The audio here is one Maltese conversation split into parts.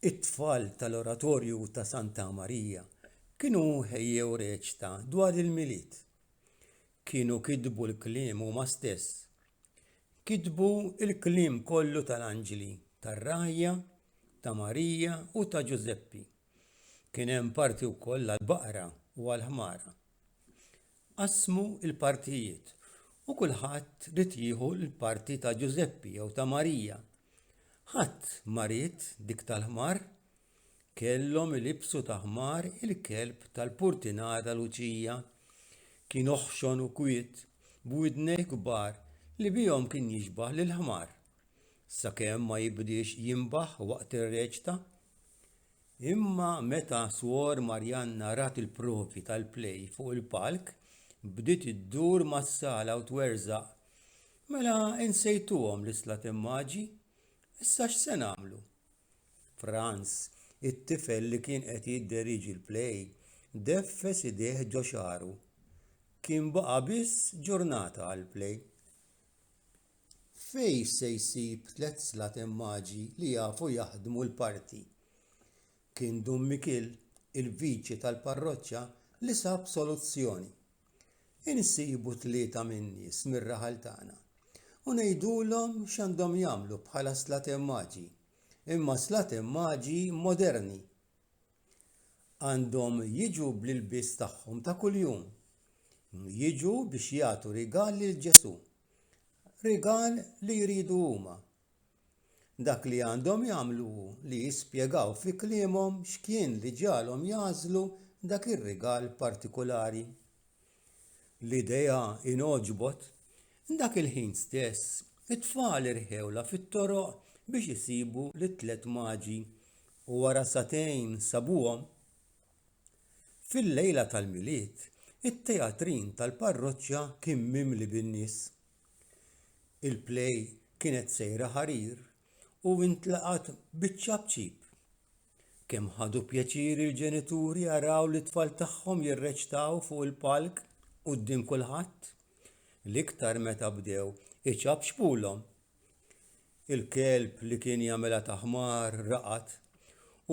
It-tfal tal-Oratorju ta' Santa Marija kienu ħejjew reċta dwar il-Milied. Kienu kitbu l-kliem huma stess. Kitbu l-kliem kollu tal-anġli, tar-rajja, ta' Marija u ta' Ġużeppi. Kien hemm parti wkoll għall-baqra u għall-ħmara Qasmu l-partijiet u kulħadd rid jieħu l-parti ta' Ġużeppi jew ta' Marija. Ħadd ma ried dik tal-ħmar. Kellhom ilibsu ta' ħmar il-kelb tal-purtinar ta' Luċija. Kien oħxon u kwiet, b'widnejh kbar li bihom kien jixbah lil ħmar. Sakemm ma jibdiex jinbaħ waqt ir-reċta. Imma meta Swor Marianna rat il-provi tal-play fuq il-palk, bdiet iddur mas-sala u twerżaq, Mela insejtuhom l-islatemmaggi? Issa x'se nagħmlu? Frans, it-tifel li kien qed jidderieġi l-play, deffes idejh ġo xagħru. Kien baqa' biss ġurnata għall-play. f'fejn se jsib tliet slat immaġi li jafu jaħdmu l-parti kien dun mikiel il-viċi tal-parroċċa li sab soluzzjoni insibu tlieta min-nies mir-raħal tagħna u ngħidulhom x'għandhom jagħmlu bħala slat immaġi imma slat immaġi moderni Għandhom jiġu bl-ilbies tagħhom ta' kuljum. Jiġu biex jagħtu rigal lil Ġesù. Rigal li jridu huma. Dak li għandhom jagħmlu hu li jispjegaw fi kliemhom x'kien li ġalhom jagħżlu dak ir-rigal partikulari. L-idea hi ngħoġbot! Dak il-ħin stess, it-tfal irħewlha fit-toroq biex isibu lit-tliet maġi u wara sagħtejn sabuhom. Fil-lejla tal-Milied, it-teatrin tal-parroċċa kien mimli bin-nies. Il-play kienet sejra ħarir u intlaqgħet biċċa b'ċip. Kemm ħadu pjaċir il-ġenituri jaraw li t-tfal tagħhom jirreċtaw fuq il-palk quddiem kulħadd. L-iktar meta bdew iċabxbulhom. Il-kelb li kien jagħmilha taħmar raqat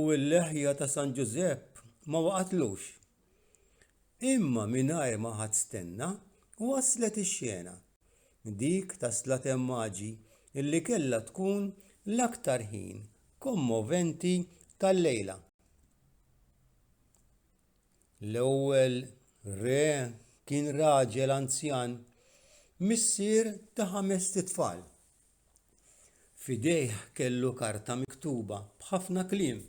u l-leħja ta' San Ġużepp ma waqatlux. Imma mingħajr ma ħadd stenna waslet ix-xena. dik ta' Slaten Maġi illi kellha tkun l-aktar ħin kommoventi tal-lejla. L-ewwel re kien raġel anzjan, missier ta' ħamest itfal. F'idejh kellu karta miktuba b'ħafna kliem.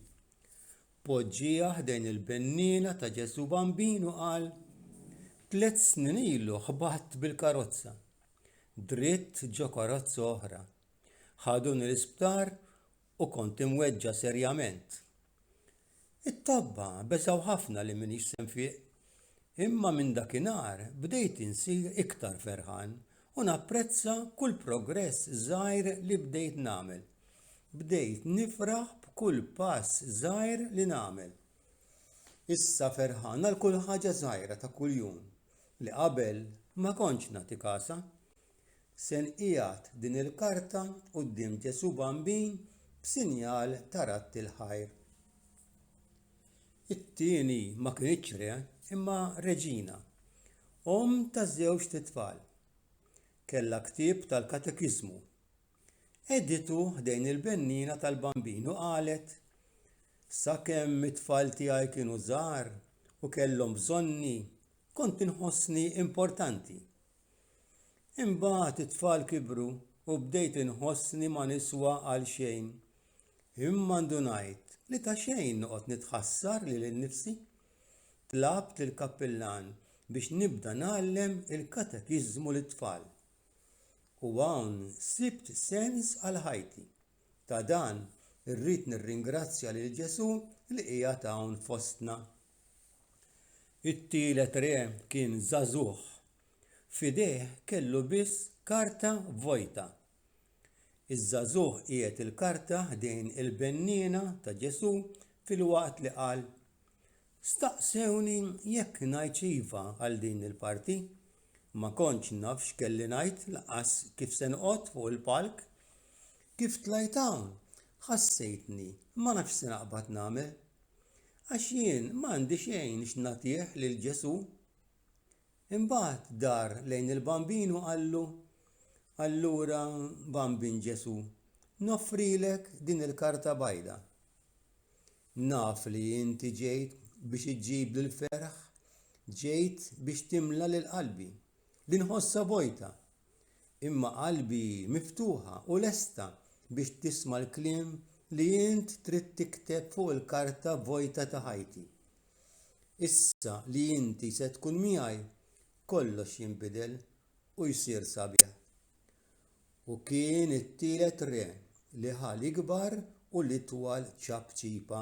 Poġġieha ħdejn il-benniena ta' Ġesù Bambin u qal, Tliet snin ilu ħbatt bil-karozza, dritt ġo karozza oħra. Ħaduni l-isptar u kont imweġġa' serjament. It-tobba beżgħu ħafna li m'iniex se nfiq. Imma minn dakinhar bdejt insir iktar ferħan u napprezza kull progress żgħir li bdejt nagħmel. Bdejt nifraħ b'kull pass żgħir li nagħmel. Issa ferħan għal kull ħaġa żgħira ta' kuljum li qabel ma kontx nagħti kasha. Se nqiegħed din il-karta quddiem Ġesù Bambin b'sinjal ta' radd il-ħajr. It-tieni ma kinitx re, imma reġina, omm ta' żewġt itfal. Kellha ktieb tal-katekiżmu. Editu ħdejn il-bennina tal-Bambin u qalet, Sakemm it-tfal tiegħi kienu żgħar u kellhom bżonni, kont inħossni importanti Imbagħad it-tfal kibru u bdejt inħossni ma niswa għal xejn. Imma ndunajt li ta' xejn noqgħod nitħassar lili nnifsi. Tlabt lill-kappillan biex nibda ngħallem il-katekiżmu lit-tfal. U hawn sibt sens għal ħajti. Ta' dan irrid nirringrazzja lil Ġesù li qiegħed hawn fostna. It-tielet re kien żagħżugħ. F'idejh kellu biss karta vojta. Iż-żagħżugħ qiegħed il-karta ħdejn il-benniena ta' Ġesù filwaqt li qal, Staqsewni jekk ngħidx iva għal din il-parti. Ma kontx naf x'kelli ngħid lanqas kif se noqgħod fuq il-palk. Kif tlajt hawn, ħassejtni ma nafx se naqbad nagħmel. Għax jien ma għandi xejn x'nagħtih lil Ġesù. Imbagħad dar lejn il-bambin u qallu, Allura bambin Ġesù, noffrilek din il-karta bajda. Naf li inti ġejt biex iġġib lil ferħ, ġejt biex timla lil qalbi, li nħossha vojta. imma qalbi hi miftuħa u lesta biex tisma' l-kliem li int trid tikteb fuq il-karta vojta ta' ħajti. Issa li inti se tkun miegħi, kollox jinbidel u jsir sabiħ. U kien it-tielet re li ħa l-ikbar u l-itwal ċapċipa.